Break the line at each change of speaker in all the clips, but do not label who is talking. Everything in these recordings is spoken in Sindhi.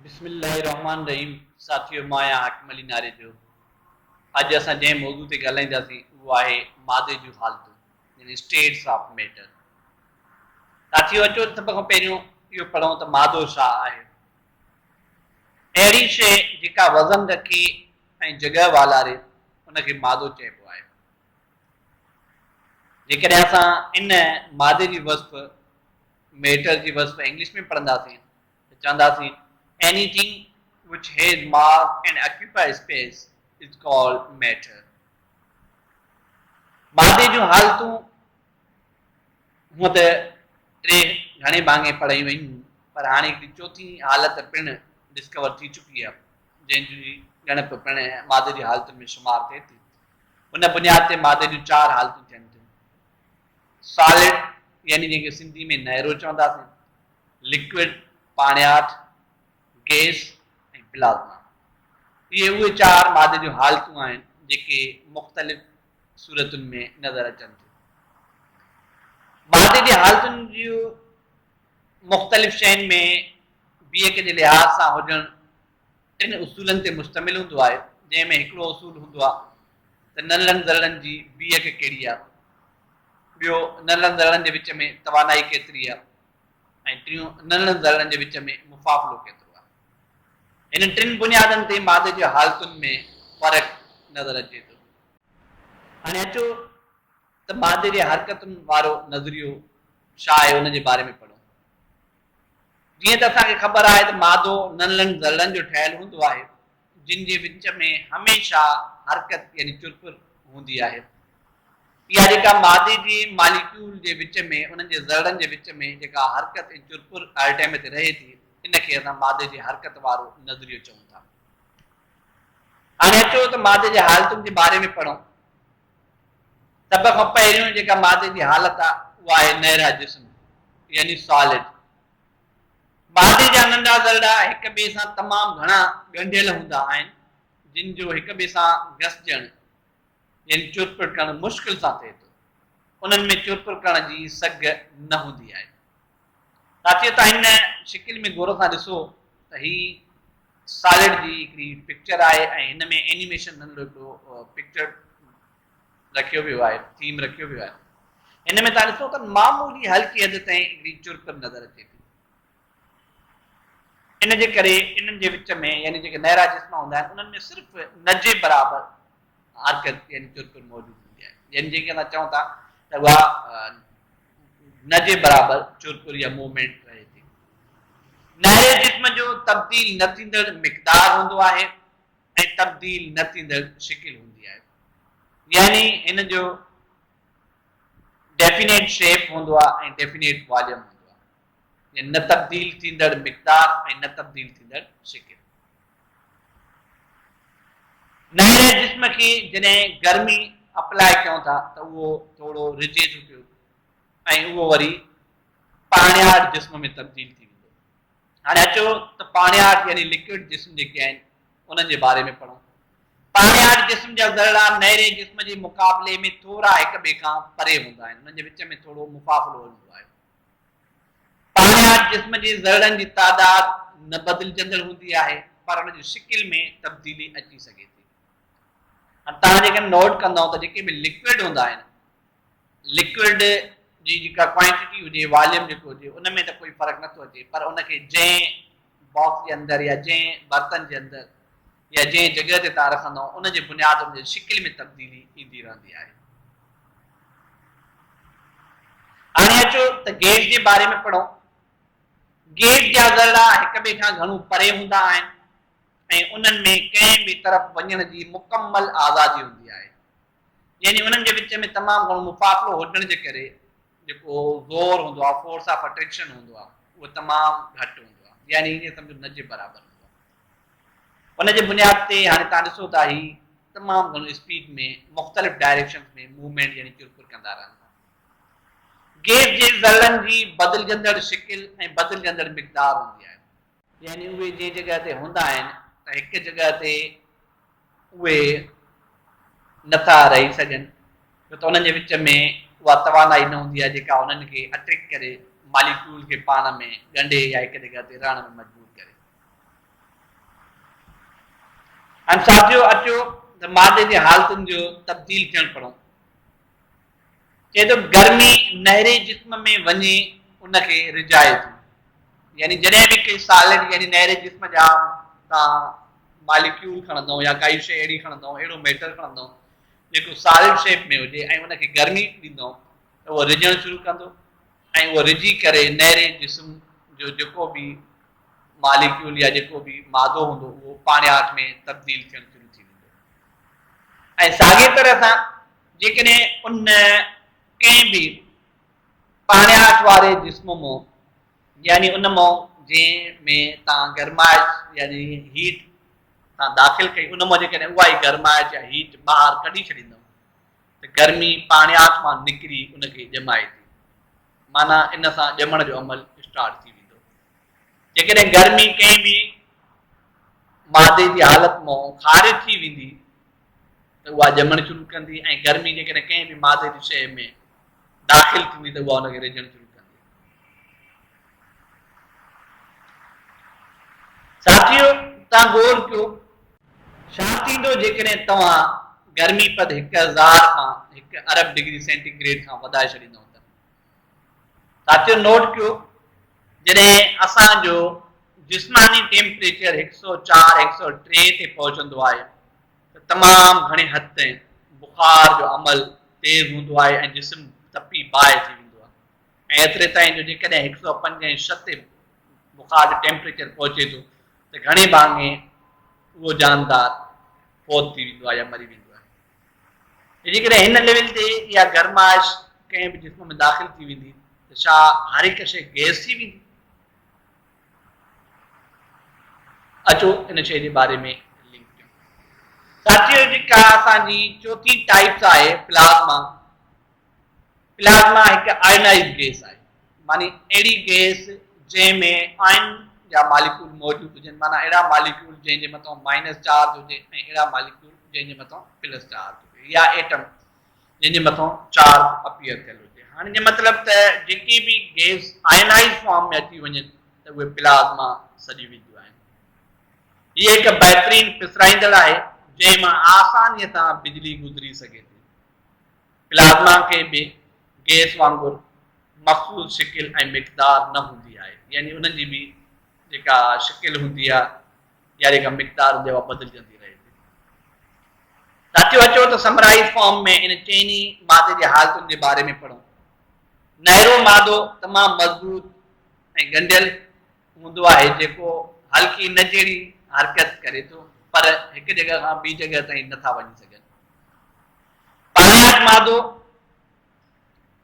بسم الله الرحمٰن الرحيم ساٿيو مان آهيان حاڪم علي ناريجو اڄ اسان جنهن موضوع تي ڳالهائينداسين اهو آهي مادي جون حالتون يعني اسٽيٽس آف ميٽر ساٿيو اچو سڀ کان پهريون اهو پڙهون ته مادو ڇا آهي اهڙي شيء جيڪا وزن رکي ۽ جڳهه والاري ان کي مادو چئبو آهي جيڪڏهن اسان ان مادي جي وصف ميٽر جي وصف انگلش ۾ پڙهنداسين ته چونداسين Any thing which has mass and occupy space is called matter. مادي جون حالتون هونء ته ٽي گهڻي ڀاڱي پڙهيون ويون پر هاڻي هڪڙي چوٿين حالت پڻ ڊسڪور ٿي چڪي آهي جنهن جي ڳڻپ پڻ مادي جي حالتن ۾ شمار ٿئي ٿي. ان بنياد تي مادي جون چار حالتون ٿين ٿيون. سالڊ يعني جنهن کي سنڌي ۾ نهرو چونداسين لڪوڊ، پاڻياٺ، گئس ۽ پلازما. اهي اهي چار مادي جون حالتون آهن جيڪي مختلف صورتن ۾ نظر اچن ٿيون. مادي جي حالتن جي مختلف شين ۾ بيهڪ جي لحاظ سان هجڻ ٽن اصولن تي مشتمل هوندو آهي جنهن ۾ هڪڙو اصول هوندو آهي ته ننرن ذرڙن جي بيهڪ ڪهڙي آهي، ٻيو ننرن ذرڙن جي وچ ۾ توانائي ڪيتري آهي، ۽ ٽيون انهن ذرڙن جي وچ ۾ مفاضلو ڪيترو آهي. هن ٽن بنيادن تي مادي جي حالتن ۾ فرق نظر اچي ٿو. هاڻي اچو ته مادي جي حرڪتن وارو نظريو ڇا آهي ان جي باري ۾ پڙهون. جيئن ته اسان کي خبر آهي ته مادو ننھن ذرڙن جو ٺهيل هوندو آهي جن جي وچ ۾ هميشه حرڪت يعني چرپر هوندي آهي. اها جيڪا مادي جي ماليڪيول جي وچ ۾ انهن جي ذرڙن جي وچ ۾ جيڪا حرڪت ۽ چرپر هر ٽيم تي رهي ٿي ان کي اسان مادي جي حرڪت وارو نظريو چئون ٿا. هاڻي اچو ته مادي جي حالتن جي باري ۾ پڙهون. سڀ کان پهريون جيڪا مادي جي حالت آهي اها آهي نيرا جسم يعني Solid. بادي جا ننڍا ذرڙا هڪ ٻئي سان تمام گهڻا ڳنڍيل هوندا آهن، جن جو هڪ ٻئي سان گسجڻ يعني چرپر ڪرڻ مشڪل سان ٿئي ٿو. انهن ۾ چرپر ڪرڻ جي سگهه نه هوندي آهي. ساٿيو توهان هن شڪل ۾ غور سان ڏسو ته هي سالڊ جي هڪڙي پڪچر آهي ۽ هن ۾ اينيميشن ننڍڙو هڪڙو پڪچر رکيو ويو آهي Theme رکيو ويو آهي هن ۾ تان ڏسو ته معمولي هلڪي حد تائين هڪڙي چرپر نظر اچي ٿي ان جي ڪري انهن جي وچ ۾ يعني جيڪي نيرا جسم هوندا آهن انهن ۾ صرف نجي برابر حرڪت يعني چرپر موجود هوندي آهي يعني جيڪي اسان چون ٿا ته اها نجي برابر چرپر يا موومينٽ رهي ٿي نيري جسم جو تبديل نه ٿيندڙ مقدار هوندو آهي ۽ تبديل نه ٿيندڙ شڪل هوندي آهي يعني هن جو ڊيفينيٽ شيپ هوندو آهي ۽ ڊيفينيٽ واليوم هوندو آهي يعني نه تبديل ٿيندڙ مقدار ۽ نه تبديل ٿيندڙ شڪل نئين جسم کي جڏهن گرمي اپلاء ڪيون ٿا ته اهو ٿورو رجي ٿو پيو ۽ اهو وري پاڻيار جسم ۾ تبديل ٿي هاڻي اچو ته پاڻياٺ يعني لڪوڊ جسم جيڪي آهن انهن جي باري ۾ پڙهون. پاڻياٺ جسم جا ذرڙا نيري جسم جي مقابلي ۾ ٿورا هڪ ٻئي کان پري هوندا آهن انهن جي وچ ۾ ٿورو مفاصلو هوندو آهي. پاڻياٺ جسم جي ذرڙن جي تعداد نه بدلجندڙ هوندي آهي پر ان جي شڪل ۾ تبديلي اچي سگهي ٿي. هاڻي توهان جيڪڏهن نوٽ ڪندائون ته جيڪي به لڪوڊ هوندا آهن لڪوئڊ جي جيڪا ڪوانٽيٽي هجي، واليوم جيڪو هجي، ان ۾ ته ڪوئي فرق نٿو اچي پر ان کي جنهن باڪس جي اندر يا جنهن برتن جي اندر يا جنهن جڳهه تي تان رکندؤ ان جي بنياد ان جي شڪل ۾ تبديلي ايندي رهندي آهي. هاڻي اچو ته گيج جي باري ۾ پڙهون. گيج جا ذرڙا هڪ ٻئي کان گهڻو پري هوندا آهن ۽ انهن ۾ ڪنهن به طرف وڃڻ جي مڪمل آزادي هوندي آهي. يعني انهن جي وچ ۾ تمام گهڻو مفاصلو هجڻ جي ڪري جيڪو زور هوندو آهي، فورس آف اٽريڪشن هوندو آهي، اهو تمام گهٽ هوندو آهي، يعني ائين سمجهو نه جي برابر هوندو آهي. ان جي بنياد تي هاڻي توهان ڏسو ٿا هي تمام گهڻو اسپيڊ ۾ مختلف ڊائريڪشنز ۾ موومينٽ يعني چرپر ڪندا رهن ٿا. گيس جي ذرڙن جي بدلجندڙ شڪل ۽ بدلجندڙ مقدار هوندي آهي. يعني اهي جنهن جڳهه تي هوندا آهن ته هڪ جڳهه تي اهي نٿا رهي سگهن ڇو ته انهن جي وچ ۾ اها توانائي نه هوندي آهي جيڪا انهن کي اٽريڪٽ ڪري ماليڪيول کي پاڻ ۾ ڳنڍي يا هڪ جڳهه تي رهڻ ۾ مجبور هاڻي ساٿيو اچو ته مادي جي حالتن جو تبديل ٿيڻ پڙهون چئي ٿو گرمي نهري جسم ۾ وڃي ان کي رجائي ٿي يعني جڏهن به ڪي سالڊ يعني نهري جسم جا تان ماليڪيول کڻندو يا ڪائي شي اهڙي کڻندو اهڙو ميٽر کڻندو جيڪو سالڊ شيپ ۾ هجي ۽ ان کي گرمي ڏيندو ته اهو رجڻ شروع ڪندو ۽ اهو رجي ڪري نهري جسم جو جيڪو به ماليڪيول يا جيڪو به مادو هوندو اهو پاڻياٺ ۾ تبديل ٿيڻ شروع ٿي ويندو ۽ ساڳي طرح سان جيڪڏهن ان ڪنهن به پاڻياٺ واري جسم مون يعني ان مون جنهن ۾ تان گرمائش يعني هيٽ تان داخل ڪئي ان مون جيڪڏهن اها ئي گرمائش يا هيٽ ٻاهر ڪڍي ڇڏيندم ته گرمي پاڻياٺ مان نڪري ان کي ڄمائي ٿي معنيٰ ان سان ڄمڻ جو عمل اسٽارٽ ٿي ويندو جيڪڏهن گرمي ڪنهن به مادي جي حالت مون خارج ٿي ويندي ته اها ڄمڻ شروع ڪندي ۽ گرمي جيڪڏهن ڪنهن به مادي جي شيء ۾ داخل ٿيندي ته اها ان کي ريجهڻ شروع ڪندي. ساٿيو توهان غور ڪيو ڇا ٿيندو جيڪڏهن توهان گرمي پد هڪ هزار کان هڪ ارب ڊگري سينٽي گريڊ کان وڌائي ڇڏيندؤ ته ساٿيو نوٽ ڪيو جڏهن اسان جو جسماني ٽيمپريچر هڪ سؤ چار هڪ سؤ ٽي تي پهچندو آهي ته تمام گهڻي حد تائين بخار جو عمل تيز هوندو آهي ۽ جسم تپي باهه ٿي ويندو آهي ۽ ايتري تائين جو جيڪڏهن هڪ سؤ پنج ۽ ڇهه تي بخار جو ٽيمپريچر پهچي ٿو ته گهڻي ڀاڱي اهو جاندار فوت ٿي ويندو آهي يا مري ويندو آهي جيڪڏهن هن ليول تي اها گرمائش ڪنهن به جسم ۾ داخل ٿي ويندي ته ڇا هر هڪ شيء گئس ٿي ويندي؟ اچو ان شيء جي باري ۾ لنڪ ڪيون. ساٿيو جيڪا اسان جي چوٿين ٽائيپس آهي پلازما. پلازما هڪ آئنائيز گيس آهي، معني اهڙي گيس جنهن ۾ آئن جا ماليڪول موجود هجن، معني اهڙا ماليڪول جنهن جي مٿان مائنس چارج هجي ۽ اهڙا ماليڪول جنهن جي مٿان پلس چارج هجي يا ايٽم جنهن جي مٿان چارج اپيئر ٿيل هجي. هن جو مطلب ته جيڪي به گيس آئنائيز فارم ۾ اچي وڃن ته اهي پلازما سڏي وينديون آهن. هي هڪ بهترين پسرائيندڙ آهي جنهن مان آساني سان بجلي گذري سگهي ٿي. پلازما کي به گئس وانگر مخصوص شڪل ۽ مقدار نه هوندي آهي يعني انهن جي به جيڪا شڪل هوندي آهي يا جيڪا مقدار هوندي آهي اها بدلجندي رهي ٿي. ساٿيو اچو ته سمرائيز فارم ۾ ان چئني مادي جي حالتن جي باري ۾ پڙهون. نهرو مادو تمام مضبوط ۽ ڳنڍيل هوندو آهي جيڪو هلڪي نه جهڙي حرڪت ڪري ٿو پر هڪ جڳهه کان ٻي جڳهه تائين نه ٿا وڃي سگهن. پاڻياٺ مادو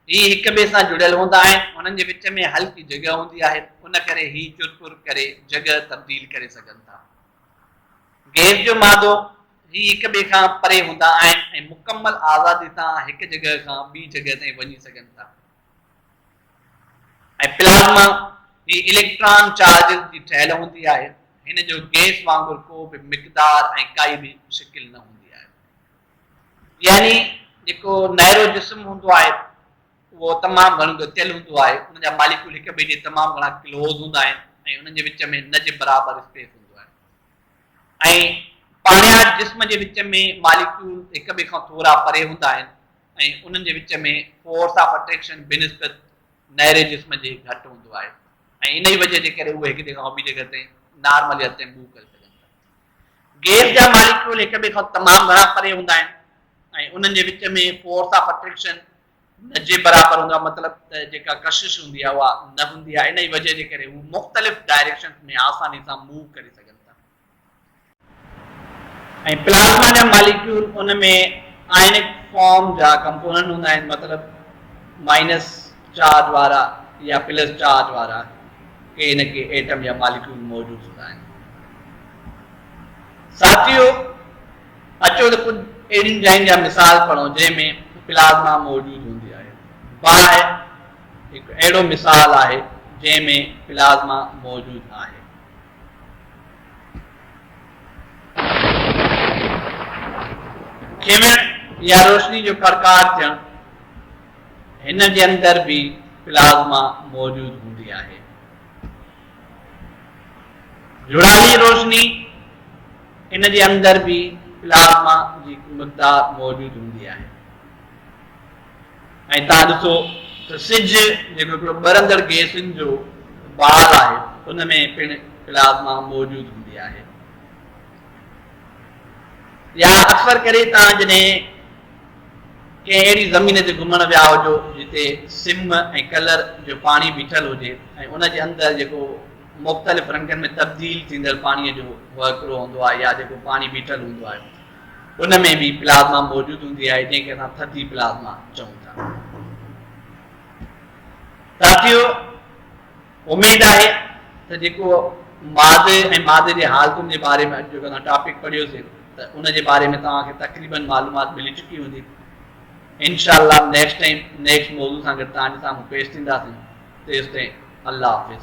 هي هڪ ٻئي سان جڙيل هوندا آهن، انهن جي وچ ۾ هلڪي جڳهه هوندي آهي، ان ڪري هي چرپر ڪري جڳهه تبديل ڪري سگهن ٿا. گيس جو مادو هي هڪ ٻئي کان پري هوندا آهن ۽ مڪمل آزادي سان هڪ جڳهه کان ٻي جڳهه تائين وڃي سگهن ٿا ۽ پلازما هي اليڪٽران چارجز جي ٺهيل هوندي آهي، هن جو گيس وانگر ڪو به مقدار ۽ ڪائي به شڪل نه هوندي آهي. يعني جيڪو نيرو جسم هوندو آهي اهو تمام گهڻو ڳتيل هوندو آهي ان جا ماليڪول هڪ ٻئي جي تمام گهڻا ڪلوز هوندا آهن ۽ انهن جي وچ ۾ نه جي برابر اسپيس هوندو آهي ۽ پاڻياٺ جسم جي وچ ۾ ماليڪول هڪ ٻئي کان ٿورا پري هوندا آهن ۽ انهن جي وچ ۾ فورس آف اٽريڪشن بنسبت نيري جسم جي گهٽ هوندو آهي ۽ انهي وجه جي ڪري اهي هڪ جي کان ٻي جي ڪري نارملي هٿين موو ڪري گيس جا ماليڪيول هڪ ٻئي کان تمام گهڻا پري هوندا آهن ۽ انهن جي وچ ۾ فورس آف اٽريڪشن نه جي برابر هوندو آهي مطلب ته جيڪا ڪشش هوندي آهي اها نه هوندي آهي انهي وجه جي ڪري هو مختلف ڊائريڪشنز ۾ آساني سان موو ڪري سگهن ۽ پلازما جا ماليڪيول ان ۾ آئنڪ فارم جا ڪمپوننٽ هوندا آهن مطلب مائنس چارج وارا يا پلس چارج وارا ڪي نه ڪي ايٽم يا ماليڪيول موجود هوندا آهن. ساٿيو! اچو ته ڪجهه اهڙين جاين جا مثال پڙهون جنهن ۾ پلازما موجود هوندي آهي. باهه هڪ اهڙو مثال آهي جنهن ۾ پلازما موجود آهي. کيمڻ يا روشني جو ڪڙڪاٽ ٿيڻ. هن جي اندر به پلازما موجود هوندي آهي. جڙالي روشني، ان جي اندر به پلازما جي هڪ مقدار موجود هوندي آهي ۽ تان ڏسو ته سج جيڪو هڪڙو ٻرندڙ گيسن جو بال آهي ان ۾ پڻ پلازما موجود هوندي آهي يا اڪثر ڪري تان جڏهن ڪنهن اهڙي زمين تي گهمڻ ويا هجو جتي سم ۽ ڪلر جو پاڻي بيٺل هجي ۽ ان جي اندر جيڪو مختلف رنگن ۾ تبديل ٿيندڙ پاڻي جو وهڪرو هوندو آهي يا جيڪو پاڻي بيٺل هوندو آهي ان ۾ به پلازما موجود هوندي آهي جنهن کي اسان ٿڌي پلازما چئون ٿا ساٿيو اميد آهي ته جيڪو ماضي ۽ ماضي جي حالتن جي باري ۾ اڄ جيڪو اسان ٽاپڪ پڙهيوسي ته ان جي باري ۾ توهان کي تقريبن معلومات ملي چڪي هوندي. انشاء الله نيڪسٽ ٽائيم نيڪسٽ موضوع سان گڏ توهان جي سامهون پيش ٿينداسين. تيستائين الله حافظ.